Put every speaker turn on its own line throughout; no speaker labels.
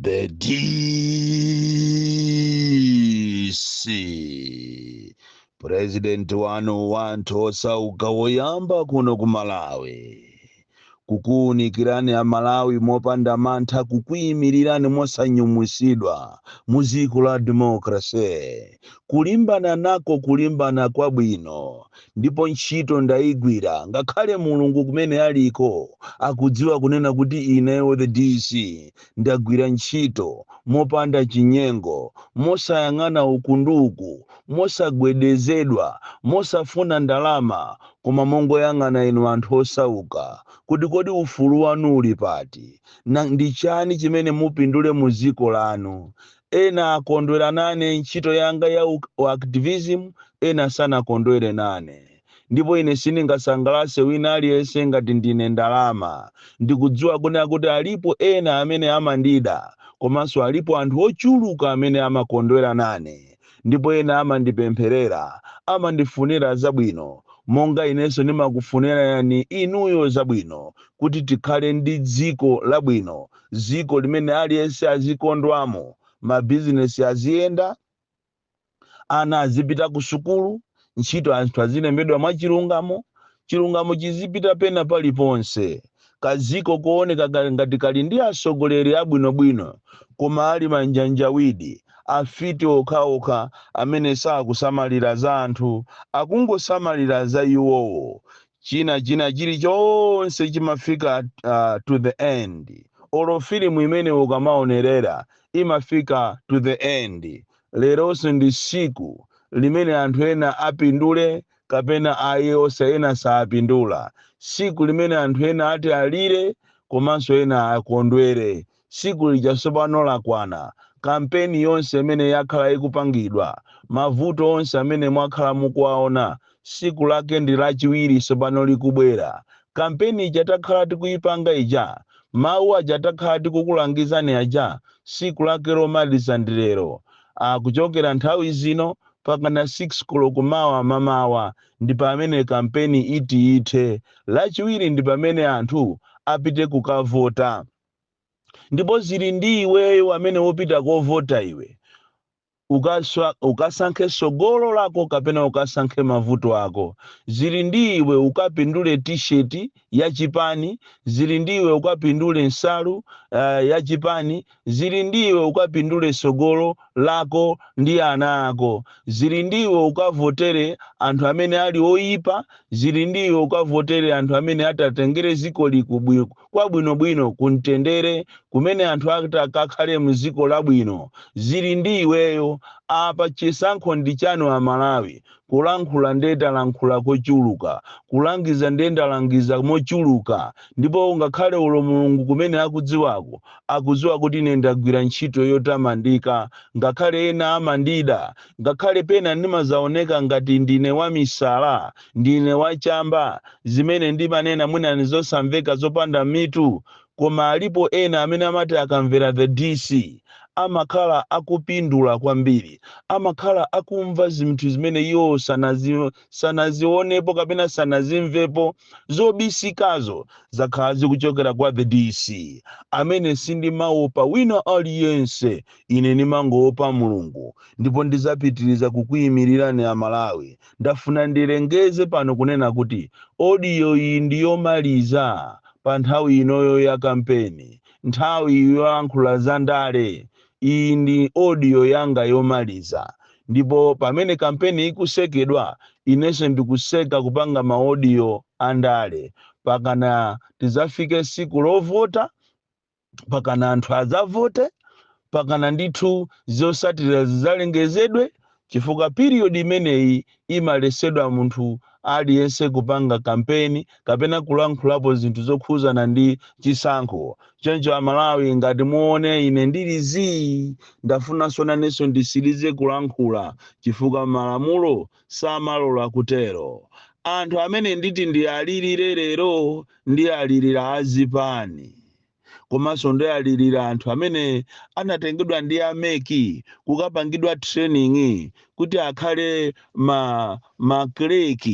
The DC President wanu wa anthu osauka woyamba kuno ku Malawi kukuunikirani amalawi mopanda mantha kukuimirirani mosanyumwisidwa mu dziko la democracy kulimbana nako kulimbana kwabwino ndipo ntchito ndaigwira ngakhale Mulungu kumene aliko akudziwa kunena kuti ineyo the DC ndagwira ntchito mopanda chinyengo, mosayang'ana uku ndi uku, mosagwedezedwa, mosafuna ndalama koma mongoyang'ana inu anthu osauka kuti kodi ufulu wanu uli pati? Ndi chani chimene mupindule mu dziko lanu? Ena akondwera nane ntchito yanga ya u Activism, ena sanakondwere nane. Ndipo ine siningasangalase wina aliyense ngati ndine ndalama. Ndikudziwa kunena kuti alipo ena amene amandida, komanso alipo anthu ochuluka amene amakondwera nane. Ndipo ena amandipempherera, amandifunira zabwino, monga inenso ndimakufunirani inuyo zabwino, kuti tikhale ndi dziko labwino. dziko limene aliyense azikondwamo, mabizinesi aziyenda, ana azipita kusukulu, ntchito anthu azilembedwa mwachilungamo, chilungamo chizipita pena paliponse, kadziko kooneka ngati kali ndi atsogoleri abwinobwino koma ali manjanjawidi, afiti okhaokha amene sakusamalira za anthu, akungosamalira za iwowo. china china chilichonse chimafika to the end olo filimu imene ukamaonerera imafika to the end leronso ndi siku limene anthu ena apindule kapena ayi osa ena saapindula siku limene anthu ena ati alire komanso ena akondwere Tsiku lija tsopano lakwana. Kampeni yonse imene yakhala ikupangidwa, mavuto onse amene mwakhala mukuwaona, tsiku lake ndi Lachiwiri tsopano likubwera. Kampeni ija takhala tikuipanga ija, mawu aja takhala tikukulangizani aja, tsiku lake lomaliza ndi lero. Kuchokera nthawi zino mpakana 6 koloko mawa mamawa ndi pamene kampeni iti ithe. Lachiwiri ndi pamene anthu apite kukavota. ndipo zili ndi iweyo amene wopita kovota iwe ukasankhe sogolo lako kapena ukasankhe mavuto ako zili ndi iwe ukapindule t-shirt ya chipani zili ndi iwe ukapindule nsalu ya chipani zili ndi iwe ukapindule sogolo lako ndi ana ako zili ndi iwe ukavotere anthu amene ali oyipa zili ndi iwe ukavotere anthu amene atatengere ziko likubwi- kwabwinobwino kumtendere kumene anthu ati akakhale mziko labwino zili ndi iweyo apa chisankho ndi chanu amalawi kulankhula nde ndalankhula kochuluka kulangiza nde ndalangiza mochuluka ndipo ngakhale olo mulungu kumene akudziwako akudziwa kuti ine ndagwira ntchito yotamandika ngakhale ena amandida ngakhale pena ndimazaoneka ngati ndine wamisala Ndine wa chamba? Zimene ndimanena mwina ndizosamveka zopanda mitu koma alipo ena amene amati akamvera the DC amakhala akupindula kwambiri. Amakhala akumva zinthu zimene iwo sanazionepo kapena sanazimvepo. Zobisikazo zakhala zikuchokera kwa the DC amene sindimaopa wina aliyense ine ndimangoopa Mulungu ndipo ndizapitiliza kukuimilirani a Malawi Ndafuna ndilengeze pano kunena kuti audio iyi ndi yomaliza pa nthawi inoyo ya kampeni, nthawi yolankhula za ndale. Iyi ndi audio yanga yomaliza ndipo pamene kampeni ikusekedwa, inenso ndikuseka kupanga ma audio a ndale pakana tidzafike siku lovota. pakana anthu adzavote pakana ndithu zosatira zidzalengezedwe chifukwa period imeneyi imalesedwa munthu aliyense kupanga kampeni kapena kulankhulapo zinthu zokhuzana ndi chisankho choncho amalawi ngati muone ine ndili zii ndafunanso nanenso ndisirize kulankhula chifukwa malamulo samalola kutero. Anthu amene nditi ndialirire lero ndialirira azipani komanso ndialirira anthu amene anatengedwa ndi a mec kukapangidwa training kuti akhale ma ma clerk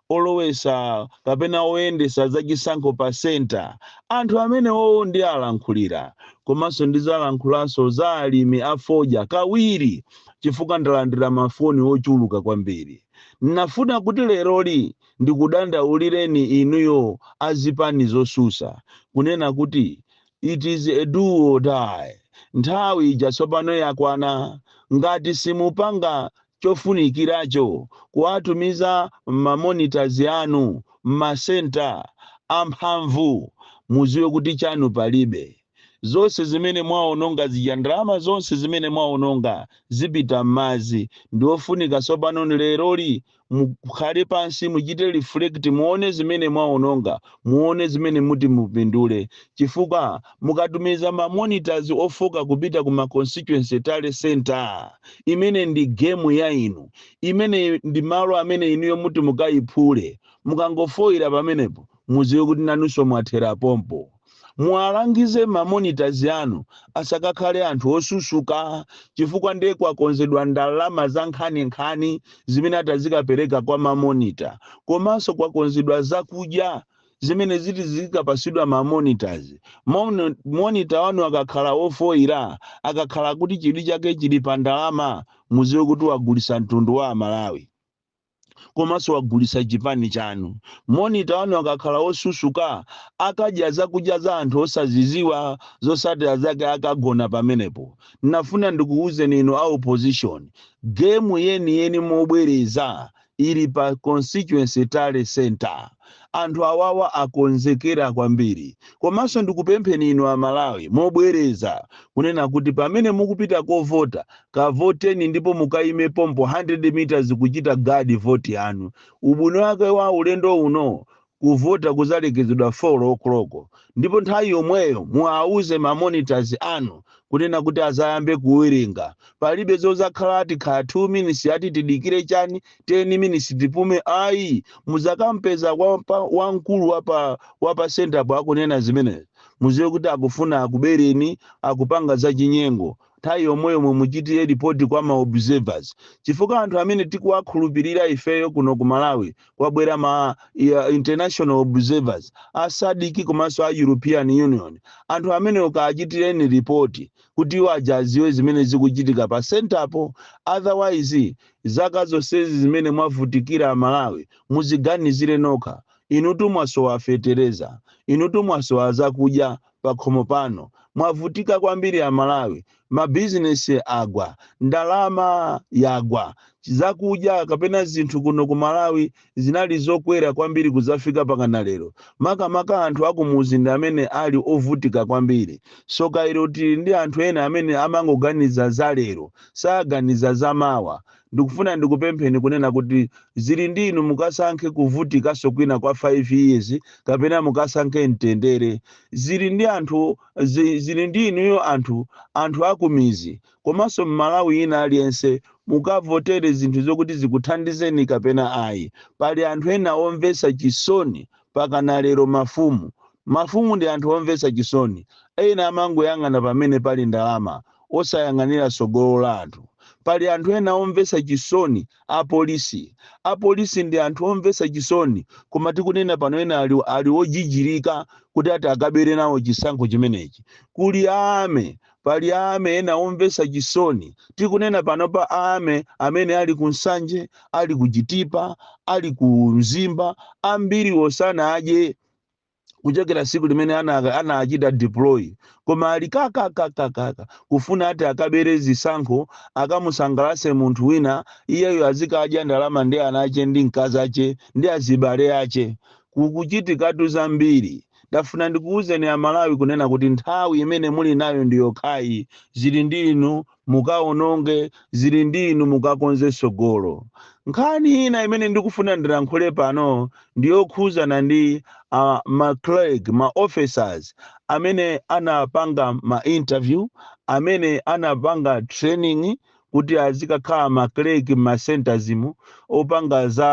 olowesa kapena oyendesa zachisankho pa center. Anthu amenewowo ndialankhulira komanso ndizalankhulanso za alimi a fodya kawiri. chifukwa ndalandira mafoni ochuluka kwambiri. Nafuna kuti leroli ndikudandaulireni inuyo a zipani zosusa, kunena kuti it is a do or die, nthawi ija tsopano yakwana, ngati simupanga chofunikiracho kuwatumiza ma monitors anu mma centre amphamvu muziwe kuti chanu palibe. Zonse zimene mwaononga zija, ndalama zonse zimene mwaononga zipita mmadzi. Ndiofunika tsopano leroli mukhale pansi muchite reflect muone zimene mwaononga muone zimene muti mupindule. Chifukwa mukatumiza ma monitors ofooka kupita ku ma constituency tally center imene ndi game ya inu. Imene ndi malo amene inuyo muti mukaiphule. Mukangofoila pamenepo mudziwe kuti nanunso mwathera pompo. Muwalangize ma monitors anu asakakhale anthu osusuka chifukwa nde kwakonzedwa ndalama zankhaninkhani zimene ati azikapereka kwa ma monitor komanso kwakonzedwa zakudya zimene ziti zizikapasidwa ma monitors. Monitor wanu akakhala wofoira, akakhala kuti chidwi chake chili pa ndalama muziwe kuti wagulisa mtundu wa amalawi. komanso wagulitsa chipani chanu. Monitor wanu akakhala wosusuka akadya zakudya za anthu osaziziwa zosatira zake akagona pamenepo. Nafuna ndikuwuzeni inu a opposition game yeniyeni mobwereza ili pa constituency tally centre. Anthu awawa akonzekera kwambiri. Komanso ndikupempheni inu a Malawi mobwereza kunena kuti pamene mukupita kovota, kavoteni ndipo mukaime pompo 100 meters kuchita guard vote yanu. Ubwino wake wa ulendo uno, kuvota kuzalekezedwa 4:00. Ndipo nthawi yomweyo muwauze ma monitors anu kunena kuti azayambe kuwerenga. Palibe zozakhala ati khala 2 minutes ati tidikire chani. 10 minutes tipume ayi muzakampeza wamkulu wapa wapa sentapo akunena zimenezi muziwe kuti akufuna akubereni akupanga za chinyengo nthawi yomweyo mumuchitire ripoti kwa ma observers chifukwa anthu amene tikuwakhulupirira ifeyo kuno ku malawi kwabwera ma ya, international observers a SADC komanso a european union anthu amene mukaachitireni ripoti kuti iwo aja aziwe zimene zikuchitika pa sentapo otherwise Zaka zonsezi zimene mwavutikira a Malawi muziganizire nokha. Inutu mwasowa fetereza. Inutu mwasowa zakudya pakhomo panu. Mwavutika kwambiri a Malawi. Ma business agwa. Ndalama yagwa. Zakudya kapena zinthu kuno ku Malawi zinali zokwera kwambiri kudzafika pakana lero. Makamaka anthu akumudzi ndi amene ali ovutika kwambiri. Tsoka ilo tili ndi anthu ena amene amangoganiza za lero, saganiza za mawa. Ndikufuna ndikupempheni kunena kuti zili ndi inu mukasankhe kuvutikanso kwina kwa 5 years kapena mukasankhe mtendere. Zili ndi anthu, zi, zili ndi inuyo anthu, anthu akumidzi. komanso mmalawi ina aliyense mukavotere zinthu zokuti zikuthandizeni kapena ayi pali anthu ena omvetsa chisoni pakana lero mafumu mafumu ndi anthu omvetsa chisoni ena amangoyang'ana pamene pali ndalama osayang'anira tsogolo la anthu pali anthu ena omvetsa chisoni apolisi apolisi ndi anthu omvetsa chisoni koma tikunena pano ena ali, ali ojijirika kuti ati akabere nawo chisankho chimenechi kuli ame Pali a army ena omvetsa chisoni, tikunena pano pali a army amene ali ku Nsanje, ali ku Chitipa, ali ku Mzimba, ambiriwo sanadye kuchokera tsiku limene ana- anachita deploy koma ali kakakakakaka kufuna ati akabere zisankho akamusangalatse munthu wina iyeyo azikadya ndalama ndi ana ache ndi mkazi ache ndi azibale ache kukuchitikatu zambiri Ndafuna ndikuuzeni a Malawi kunena kuti nthawi imene muli nayo ndi yokhayi, zili ndi inu mukaononge, zili ndi inu mukakonze tsogolo. Nkhani ina imene ndikufuna ndilankhule pano ndi yokhuzana ndi ma clerk, ma officers amene anapanga ma interview, amene anapanga training kuti azikakhala ma clerk mma centres mu opanga za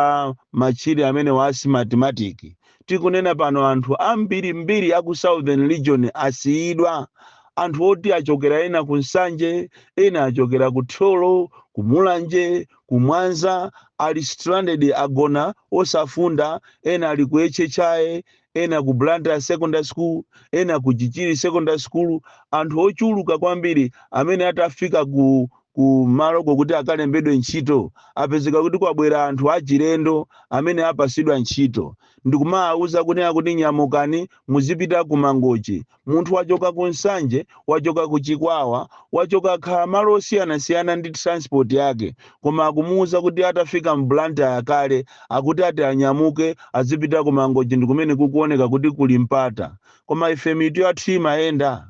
ma machine amenewa a smartmatic tikunena pano anthu ambiri mbiri aku southern region asiyidwa anthu oti achokera ena ku nsanje ena achokera ku thyolo ku mulanje ku mwanza ali stranded agona osafunda ena ali ku hhi ena ku blantyre secondary school ena ku chichiri secondary school anthu ochuluka kwambiri amene atafika ku maloko kuti akalembedwe ntchito apezeka kuti kwabwera anthu achilendo amene apasidwa ntchito ndikumawawuza kunena kuti nyamukani muzipita ku mangochi Munthu wachoka ku Nsanje, wachoka ku Chikwawa, wachoka kaya malo osiyanasiyana ndi transport yake koma akumuuza kuti atafika mu Blantyre kale akuti ati anyamuke azipita ku Mangochi ndikumene kukuoneka kuti kuli mpata. Koma ife mitu yathu imayenda?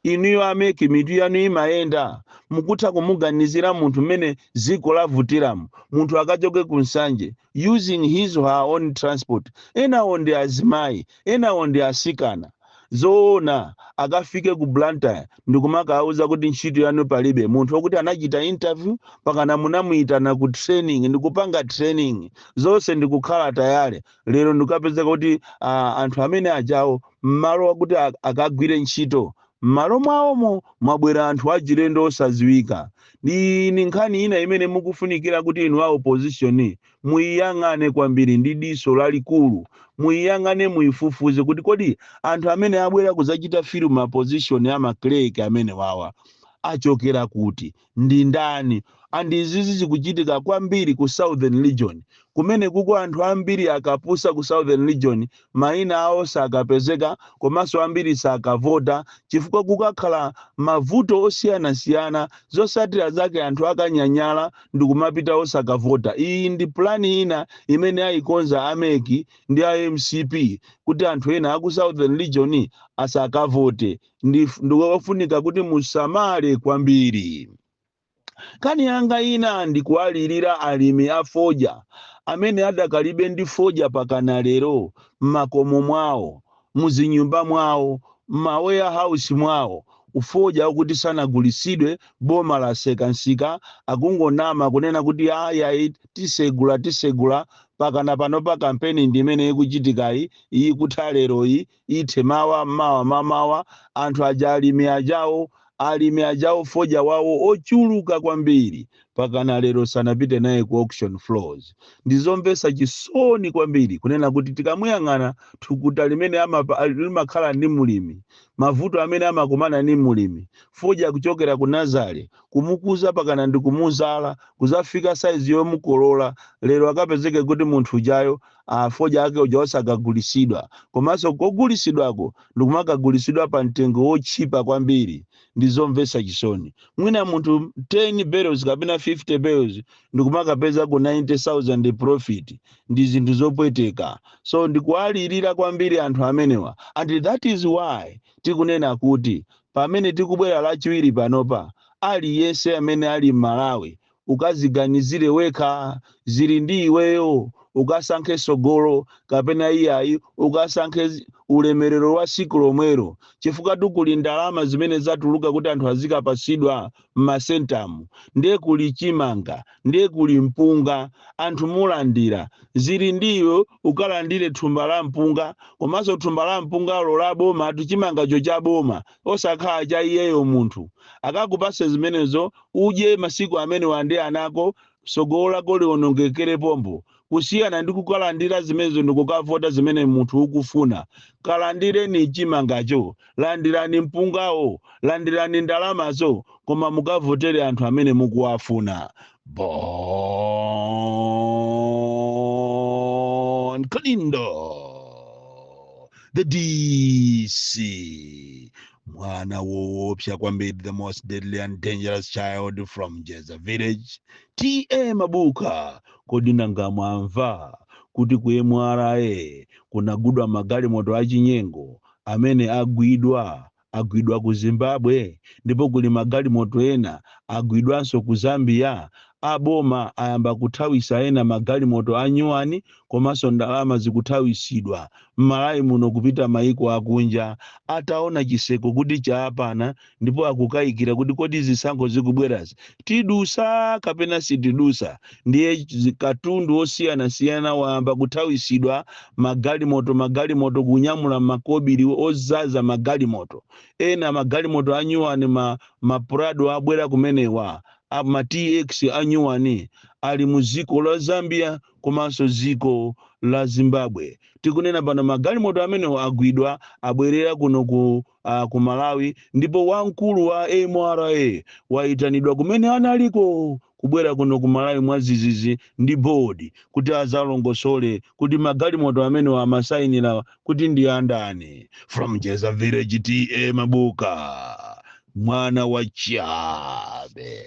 Inuyo a mec mitu yanu imayenda? Mukutha kumuganizira munthu mmene dziko lavutiramu? Munthu akachoke ku Nsanje, using his or her own transport enawo ndi azimayi enawo ndi asikana zoona akafike ku blantyre ndikumakawauza kuti ntchito yanu palibe munthu wokuti anachita interview mpakana munamuyitana ku training ndikupanga training zonse ndikukhala tayale lero ndikukapezeka kuti uh, anthu amene ajawo mmalo wakuti akagwire ntchito M'malo mwawomo, mwabwera anthu achilendo osadziwika ndi ni nkhani ina imene mukufunikira kuti inu a opposition muiyang'ane kwambiri ndi diso lalikulu. Muiyang'ane muifufuze kuti kodi anthu amene abwera kudzachita fill ma position a ma clerk amenewawa achokera kuti? ndi ndani and izizi zikuchitika kwambiri ku southern region kumenekuko anthu ambiri akapusa ku southern region maina awo sakapezeka komanso ambiri sakavota chifukwa kukakhala mavuto osiyanasiyana zosatira zake anthu akanyanyala ndikumapita osakavota iyi ndi pulani ina imene ayikonza a mec ndi a mcp kuti anthu ena aku southern region asakavote ndif- ndikofunika kuti musamale kwambiri nkhani yanga ina ndikuwalirira alimi a fodya amene adakalibe ndi fodya pakana lero m'makomo mwawo muzinyumba mwawo m'maweya house mwawo fodya wakuti sanagulisidwe boma laseka nsika akungonama kunena kuti ayayi tisegula tisegula pakana pano pa kampeni ndi imene ikuchitikayi iyi kutha lero iyi ithe mawa, mawa mamawa, anthu aja alimi ajawo, alimi ajawo fodya wawo ochuluka kwambiri pakana lero sanapite naye ku auction floors. Ndizomvesa chisoni kwambiri kunena kuti tikamayang'ana thukuta limene amapa, limakhala ndi mlimi, mavuto amene amakumana ndi mlimi, fodya kuchokera ku nazale, kumukuza pakana ndikumuzala kuzafika size yomukolola, lero akapezeke kuti munthu ujayo ah, fodya ake uja osakagulisidwa komanso kogulisidwako ndikumakagulitsidwa pa mtengo wotchipa kwambiri ndi zomvetsa chisoni mwina munthu 10 bales kapena 50 bales ndikumakapeza ku 90000 profit ndi zinthu zopweteka so ndikuwalirira kwambiri anthu amenewa and that is why tikunena kuti pamene tikubwera lachiwiri panopa aliyense amene ali m'malawi ukaziganizire wekha zili ndi iweyo ukasankhe sogolo kapena iyayi ukasankhe ulemerero wa siku lomwero chifukwatu kuli ndalama zimene zatuluka kuti anthu azikapasidwa m'masentamu ndiye kuli chimanga ndiye kuli mpunga anthu mulandira zili ndi iwe ukalandire thumba la mpunga komanso thumba la mpungalo la bomatu chimangacho cha boma osakhala cha iyeyo munthu akakupase zimenezo udye masiku amenewa ndi anako sogolo lako lionongekere pompo kusiyana ndi kukalandira zimenezo ndikukavota zimene munthu ukufuna kalandireni chimangacho landirani mpungawo landirani ndalamazo koma mukavotere anthu amene mukuwafuna bon kalindo the dc mwana woopsa kwambiri the most deadly and dangerous child from njeza village ta mabuka kodi nanga mwamva kuti ku mra kunagwidwa magalimoto achinyengo amene agwidwa agwidwa ku Zimbabwe ndipo kuli magalimoto ena agwidwanso ku Zambia, a boma ayamba kuthawisa ena magalimoto a nyuwani komanso ndalama zikuthawisidwa m'malawi muno kupita maiko akunja ataona chiseko kuti chaapana ndipo akukayikira kuti kodi zisankho zikubwerazi tidusa kapena sitidusa ndiye zi- katundu osiyanasiyana wayamba kuthawitsidwa magalimoto magalimoto kunyamula makobiri odzaza magalimoto ena magalimoto anyuwani ma, ma prado abwera kumenewo a- ma tx anyuwani ali mu dziko la zambia komanso dziko la zimbabwe tikunena pano magalimoto amenewo agwidwa abwerera kuno ku a ku malawi ndipo wamkulu wa mra wayitanidwa kumene analiko kubwera kuno ku malawi mwadzidzidzi ndi bodi kuti adzalongosole kuti magalimoto amenewa amasayinira kuti ndi andani from jeza village ta mabuka mwana wa chabe